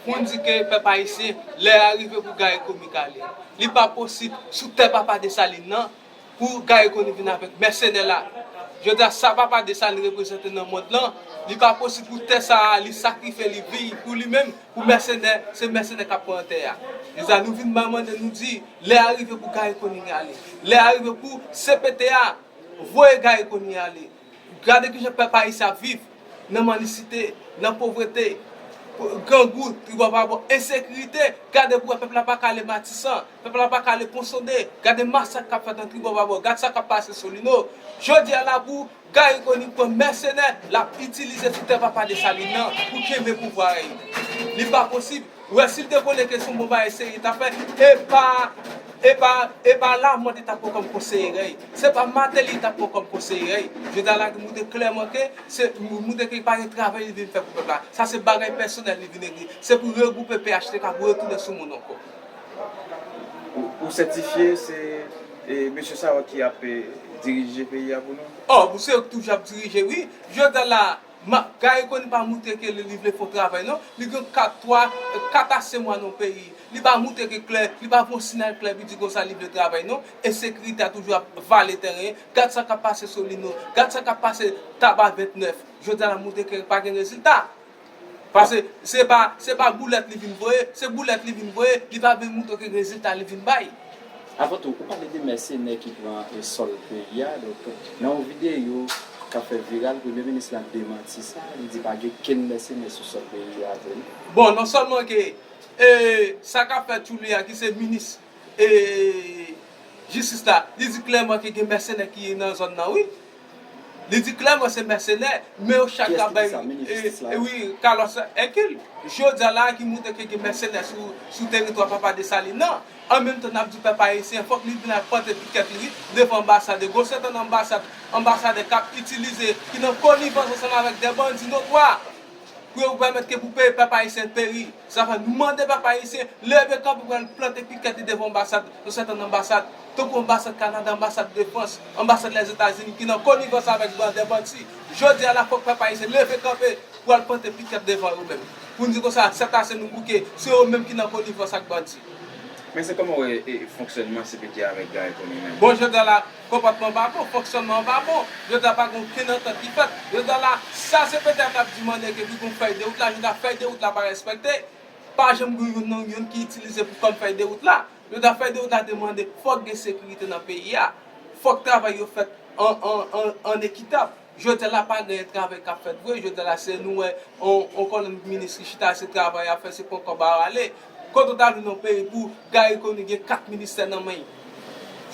Konn di ke pèp ayisyen lè a rive pou Garry Conille kale. Li pa posib sou tè papa Dessalines nan pou Garry Conille vin avèk mèsenè la. Jodi a sa papa Dessalines reprezante nan mond lan, li pa posib pou tè sa a li sakrifye li vi pou li menm pou mèsenè, se mèsenè kap pran tè a. Jodi a nou vin mande nou di lè a rive pou Garry Conille ale. Lè a rive pou cpt a voye Garry Conille ale. Gade kijan pèp ayisyen ap viv, nan mandisite, nan povrete, grangou, tribòbabò, ensekirite, gade pou wè pèp la pa ka ale Matisan, pèp la pa ka ale Ponsonde, gade masak kap fèt nan tribòbabò, gad sa kap pase Solino. Jodi a la pou Gary Conille pran mèsenè lap itilize sou tè papa Dessalines nan pou kenbe pouvwa li. Li pa posib. Ou wè sil te konnen ke son bon bagay serye tap fè epa epa epa lamothe tap pran kòm konseye rèy se pa mateli li tap pran kòm konseye rèy jodi a lage moutre klèman ke se moutre ke pa gen travay li vin fè pou pèp la sa se bagay pèsonèl li vin egri se pou regwoupe phtk pou retounen sou moun ankò. Ou sètifye se mesye sa yo ki ap dirije peyi a pou nou? Ohh msye toujou ap dirije wi jodi a la. Mak gay konn pa moute ke li li vle fon travay non li gen kat twa kat a se mwa nan peyi li pa moute ke klè li pa fon sinal klè pou di konsa li vle travay non ensekirite a toujou ap vale tèren gad sa kap pase solino gad sa kap pase taba 29 jodi a la moute ke pa gen rezilta pase se pa se pa boulèt li vin voye se boulèt li vin voye li pa vin moute ke rezilta li vin bay. Avan tou, ou pale de mèsenè ki pran sòl peyi a. Donk, nan yon videyo k ap fè viral, premye minis lan demanti sa. Li di pa gen kenn mèsenè sou sòl peyi a vre non. Bon, non sèlman ke sa k ap fèt sou li a, ki se minis jistis la, li di klèman ke gen mèsenè ki nan zòn nan wi. Li di klèman se mèsenè, men yo chak la bay wi kalòs Èkil. Jodi a la a ki montre ke gen mèsenè sou teritwa papa Desalin nan. An menm tan n ap di pèp ayisyen fòk li vin ak pante pikèt li devan anbasad e gwo sentonn anbasad, anbasadè k ap itilize, ki nan konivans ansanm avèk dè bandi notwa pou yo pèmèt ke pou pèp ayisyen peri. Sa fè nou mande pèp ayisyen leve kanpe pou al plante pikèt li devan anbasad, yon sèten anbasad, tankou anbasad Kanada, anbasad Defrans, anbasad Lèzetazini ki nan konivans avèk ban dè bandi. Jodi a la fòk pèp ayisyen leve kanpe pou al plante pikèt devan yo menm. Pou n di konsa, sètase nou bouke, se yo menm ki nan konivans ak bandi. Mèsi, kòman w wè fonksyònman cpt avèk Guy Conille menm? Bon, jodi a la, Konpòtman an pa bon, fonksyònman an pa bon. Jodi a pa gen okenn antant ki fèt. Jodi a la, sa cpt a t ap dimande ke li gen yon fèy de wout la, jodi a fèy de wout la pa respekte. Pa janm gen youn nan youn ki itilize pou fèm fèy de wout la. Jodi a fèy de wout la te mande fòk gen sekirite nan peyi a. Fòk travay yo fèt an ekitab. Jodya la pa gen travay kap fèt vre jodya la se nou wè yon kolonn minis ki chita se travay yap fè se pran kòb a rale kote ou ta vin yon peyi pou Garry Conille gen 4 ministè nan menl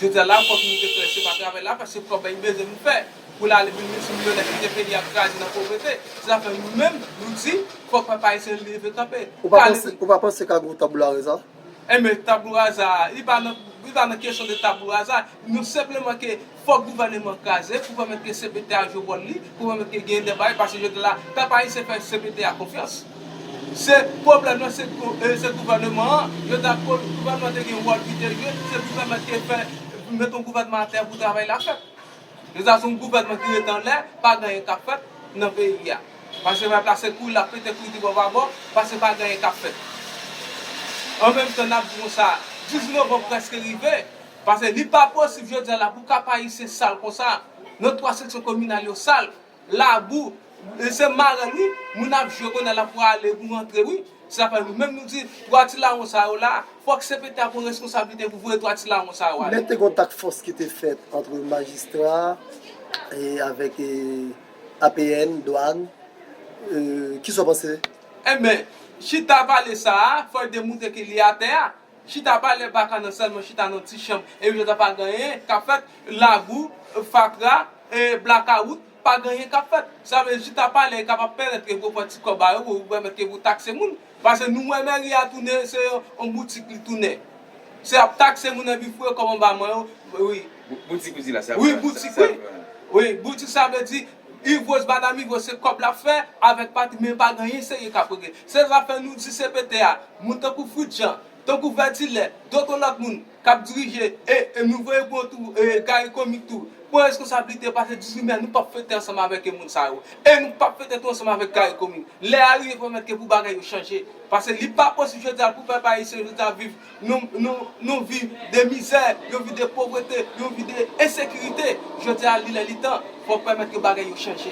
jodya la fòk nou te klè se pa travay lap fè se kòb a li bezwen pou fè poul ale vin milti milyonè kite peyi a kraze nan povrete se sa fè nou menm nou di fòk pèp ayisyen leve kanpe ou pa panse ka gon tabula reza? Enben tabula raza a li pa nan kesyon de tabula raza nou senpleman ke Fòk gouvèneman an kraze pou pèmèt ke cpt a jwe wòl li, pou pèmèt ke genyen deba yo paske jodia la pèp ayisyen fè cpt a konfyans. Se pwoblèm nan se se gouvèneman an, yo ta ko gouvèneman te gen wòl li te jwe, se pou pèmèt ke fè met yon gouvèneman atè pou travay la fèt. Jodia se yon gouvèneman ki ret anlè, pa gen anyen kap fèt nan peyi a. Paske pèp la se kouri lap pete kouri tribò pa bò paske pa gen anyen kap fèt. An menm tan nap di konsa, 12 novanm prèske rive, Pase li pa posib jodia la pou Kap Ayisyen sal konsa non 3 seksyon kominal yo sal, labou, se marèl wi moun ap jwe konnya la pou ale pou rantre wi se zafè nou menm nou di 3 ti lawon sa yo la fòk cpt a pran reskonsablite pou voye 3 ti lawon sa yo ale. Te gon task force ki te fèt antre majistra avèk APN, dwann, kisa w panse? Enben, chita pale sa a fòl demontre ke li atè a. Chita pale baka nan selman chita nan ti chanm e yo ta pa ganyen kap fèt lagou fatra e blakawout pa ganyen kap fèt sa vle chita pale kap ap pèmèt ke pou pran ti kòb a yo pou pèmèt ke pou takse moun pase nou wè mèri a tounen se yon boutik li tounen se ap takse moun epi fouye kòb anba man yo wi. Boutik ou di la se ap wi boutik wi wi boutik sa vle di. Yves Rose ba dam Yves Rose se kòb lap fè avèk pati men pa gen yen serye kap regle se zafè nou di cpt a moun tankou Fritz Jean tankou Vètilè doto lòt moun kap dirije e e nou voye pou yo tou e Garry Comic tou pran reskonsablite pase 18 mai nou pap fete ansanm avèk e moun sa yo e nou pap fete tou ansanm avèk Garry Comic lè a rive pèmèt ke pou bagay yo chanje pase li pa posib jodi a pou pèp ayisyen jodi a viv Nou viv de mizè, yo viv de povrete, yo viv de ensekirite. Jodi a, li lè li tan, fòk pèmèt ke bagay yo chanje.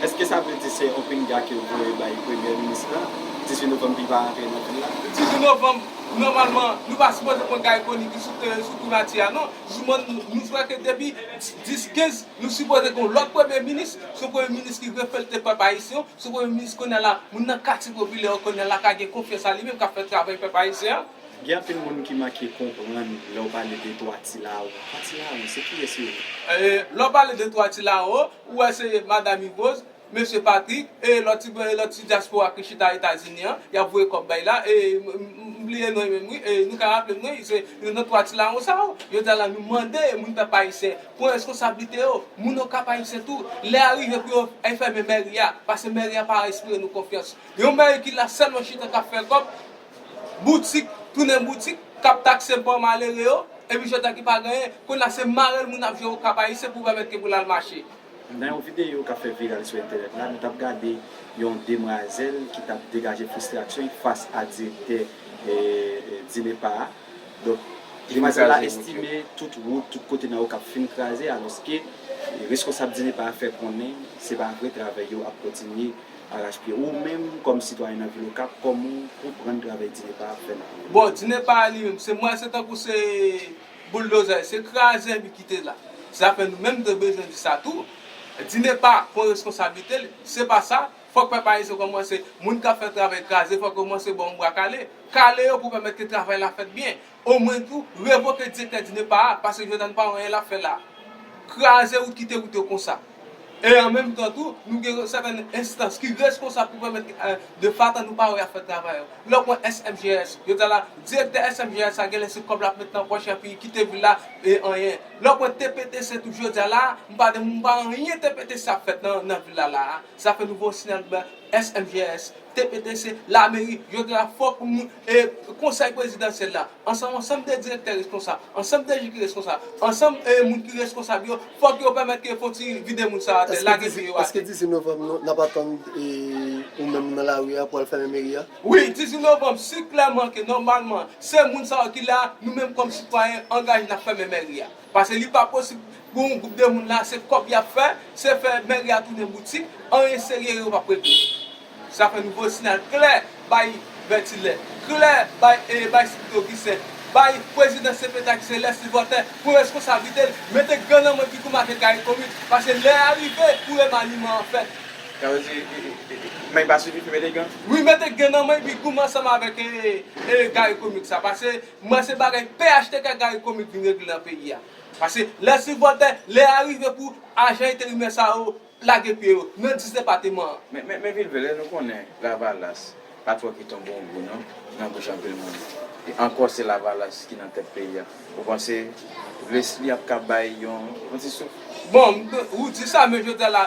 Eske sa vle di se yon pinga ke yo voye bay premye minis la? 18 novanm li va rantre nan vil la? 18 novanm, nòmalman, nou pa sipoze pran kay koni ki sou teren, sou primati a non. Nou kwè ke depi 10, 15, nou sipoze gen yon lòt premye minis, se yon premye minis ki reflete pèp ayisyen. Sou premye minis kounye a la, moun nan katye popilè yo kounye a la ka gen konfyans a li menm k ap fè travay pèp ayisyen an. Gen anpil moun ki manke konprann lè w pale de twa ti laro. Twa ti laro, se kiyès yo ye? Lè w pale de twa ti laro, ou wè se Madam Yvrose, Mesye Patrick, e lòt ti e lòt ti dyaspora ki chita Etazini an, y ap voye kòb bay la, e m m bliye non yo menm wi, e nou ka raple m non y se yo nan twa ti laron sa yo. Jodi a la nou mande moun pèp ayisyen, Pran reskonsablite yo, moun okap ayisyen tou, lè a rive pou yo fèmen mèri a, pase mèri a pa enspire nou konfyans, yon mèri ki la sèlman chita kap fè kòb, boutik tounen boutik, kap takse pa malere yo, epi chita ki pa genyen, kounye a se marèl moun ap jwe okap ayisyen pou pèmèt ke pou lal mache. Nan yon videyo kap fè viral sou entènèt la, nou tap gade yon demwazèl ki tap degaje fristrasyon fas a direktè DINEPA a, Donk, Demenm-Zè la estime tout wout, tout kote nan Okap fin kraze alòske reskonsab DINEPA a fè konnen se pa vre travay yo ap kontinye arachpye. Ou menm kòm sitwayen nan vil Okap, kòman w konprann travay DINEPA ap fè nan vil la? Bon, DINEPA a li menm, se mwen, se tankou se bouldozè, se krazè li kite la. Zafè nou menm te bezwen di sa tou. DINEPA pran reskonsablite li, se pa sa, Fòk pèp ayisyen kòmanse, moun k ap fè travay kraze fòk yo kòmanse ba yon bwa kale. Kale yo pou pèmèt ke travay la fèt byen. Omwen tou, revoke direktè DINEPA a, paske jwenn an pa wè anyen l ap fè la. Kraze wout kite wout yo konsa. E an menm tan tou, nou gen yon sèten enstans ki reskonsab pou pèmèt ke de fatan nou pa wè y ap fè travay yo. Lè w pran SMGS, jodi a la, direktè SMGS la genlè se kòb l ap met nan pòch epi kite vil la e anyen. Lè w pran TPTC tou jodi a la, m pa de m pa anyen TPTC ap fèt nan vil la la a. Sa fè nouvo SNELB, SMGS, TPTC, Lameri, yo gen la fwa pou nou e Konsèy Prezidansyèl la, ansanm ansanm de direktè reskonsab, ansanm DG ki reskonsab, ansanm e moun ki reskonsab yo, fòk yo pèmèt ke fon ti vide moun sa atè, lage pye yo atè. Eske 18 novanm nou, nap atann ou menm nan lari a pou al fèmen meri a? Wi, 18 novanm, si klèman ke nòmalman se moun sa yo ki la, nou menm kòm sitwayen angaje nap fèmen mèri a. Pase li pa posib pou yon gwoup de moun la se kòb yap fè, se fè mèri a tounen boutik, anyen serye yo pap regle. Sa fè nou voye siyal klè bay Bètilè, klè bay bay Sipri Ogisen, bay prezidan cpt a ki se Lèsi Vòtè pou reskonsablite l, mete gan nan men Pitou Make Karikom it, pase lè a rive pou remaniman an fèt. Sa vle di may pa sifi pou mete gan? Wi mete gan nan may Pigoum ansanm avèk Gary Comics la pase M'en se bagay phtk Gary Conille vin regle nan peyi a. Pase lè sipòtè, lè a rive pou ajan enterimè sa yo lage pye yo nan disdepateman an. Men Vilvele, nou konnen lavalas pa twò kite yon bon gou non nan bouch anpil moun. E ankò se lavalas ki nan tèt peyi a. Ou panse Lesly ap ka bay yon ti souf? Bon, ou di sa men jodi a la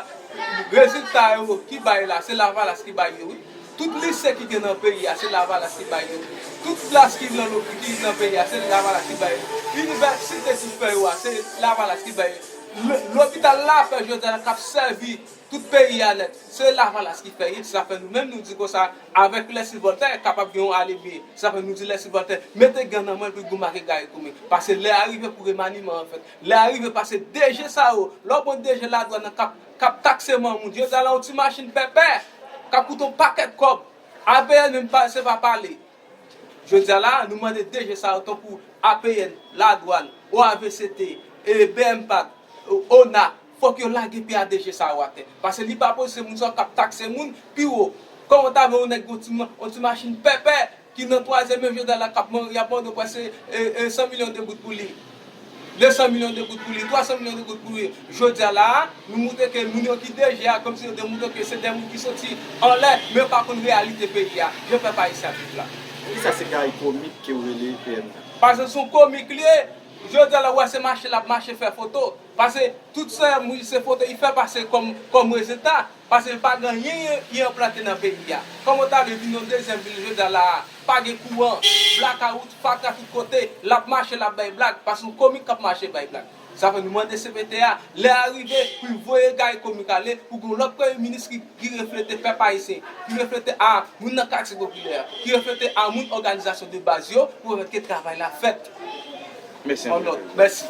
rezilta yo ki bay la se lavalas ki bay yo wi. Tout lise ki gen nan peyi a se lavalas ki bay yo, tout plas ki nan peyi a se lavalas ki bay yo, inivèsite pou fè yo a se lavalas ki bay yo, lopital lapè jodi a kap sèvi tout peyi a nèt se lavalas ki fè li, sa fè nou menm nou di konsa avèk lè sivòltè kapab gen yon alebye, sa fè nou di lè sivòltè mete gan nan men l pou l gou make gaye kou men, pase lè a rive pou remaniman an fèt, lè a rive pase DG sa yo, lè w pran DG ladwàn nan kap. kap takse man moun, yo di ala yon ti machin pèpè kap koute yon pakèt kòb, APN menm pa se pa pale. Jodi a la a, nou mande DG sa yo tankou APN, Ladwàn, OAVCT, e bmpat, ona, fòk yo lage pye a DG sa yo atè. Pase li pa posib se moun sa yo kap takse moun pi wo. Kòman w ta vle yon nèg gen yon ti machin pèpè, ki nan twazyèm men Jodha la kap manri ap mande w prese e 100 milyon de goud pou li 200 milyon de goud pou li 300 milyon de goud pou li jodia la a nou moutre ke moun yo ki DG a komsi yo de moutre ke se de moun ki soti anlè men yo pa konn reyalite peyi a jan pèp ayisyen ap viv la. Poukisa se kay komik kew rele PM nan? Pase son komik li ye, jodia la ou wè se mache lap mache fè foto, pase tout sèm wi se foto li fè pase kòm kòm rezilta. Pase l pa gen anyen li enplante nan peyi a. Kòman w ta vle vin yon dezyèm vil jodi a la a? Pa gen kouran, blakawout, fatra tout kote. L ap mache, l ap bay blag. Pase yon komik k ap mache bay blag. Sa fè nou mande cpt a, lè a rive pou l voye Gari Komik ale, pou gen yon lòt Premye Minis ki ki reflete pèp ayisyen, ki reflete a moun nan katye popilè, ki reflete a moun òganizasyon de baz yo pou pèmèt ke travay la fèt. Mèsi anpil. Mèsi.